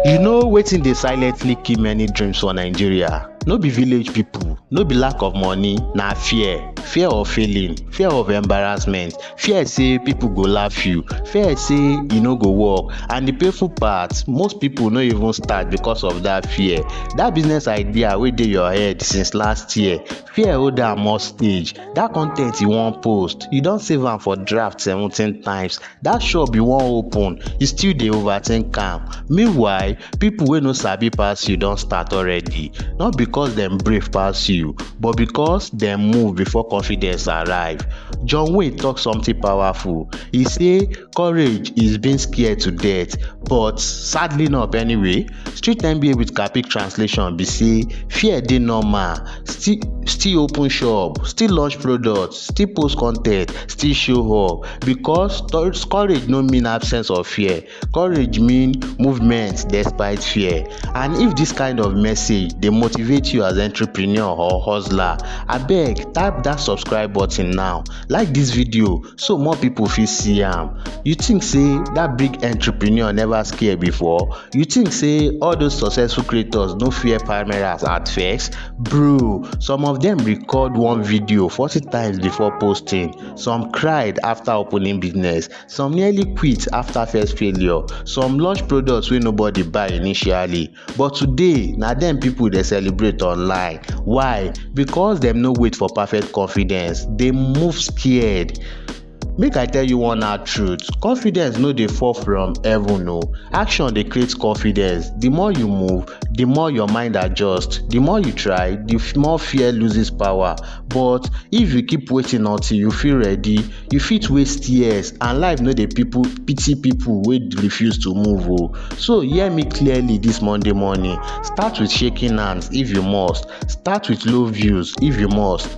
You know wetin dey silently kill many dreams for Nigeria? No be village people, no be lack of money, na fear. Fear of failing, fear of embarrassment, fear sey people go laugh you, fear sey e no go work and the painful part, most people no even start because of that fear. That business idea wey dey your head since last year, fear hold am hostage. That con ten t you wan post, you don save am for draft seventeen times that shop you wan open you still dey overthink am meanwhile people wey no sabi pass you don start already not because dem brave pass you but because dem move before confidence arrive john wayne talk something powerful he say courage is being scared to death but sadly not anyway street nba with capik translation be say fear dey normal still still open shop still launch product still post con ten t still show up because courage no mean absence of fear courage mean movement despite fear and if this kind of message dey motivate you as entrepreneur or hustler abeg tap that subscribe button now like this video so more people fit see am you think say that big entrepreneur never scare before You think say all those successful creators no fear cameras at first? Bro, some of them record one video 40 times before posting. Some cried after opening business. Some nearly quit after first failure. Some launch products wey nobody buy initially. But today, na them people dey celebrate online. Why? Because dem no wait for perfect confidence. Dem move scared. Make I tell you one hard truth, confidence no dey fall from heaven o. Action dey create confidence. The more you move, the more your mind adjust. The more you try, the f- more fear loses power. But if you keep waiting until you feel ready, you fit waste years and life no dey people pity people wey refuse to move o. So hear me clearly this Monday morning. Start with shaking hands if you must. Start with low views if you must.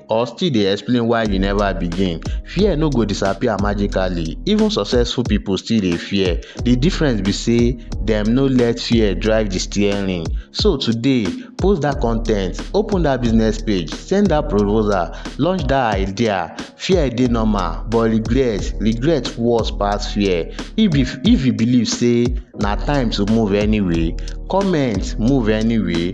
or still dey explain why you never begin fear no go disappear magically even successful people still dey fear the difference be say dem no let fear drive the steering so today post that content open that business page send that proposal launch that idea fear dey normal but regret regret worse pass fear if you if you believe say na time to move anyway comment move anyway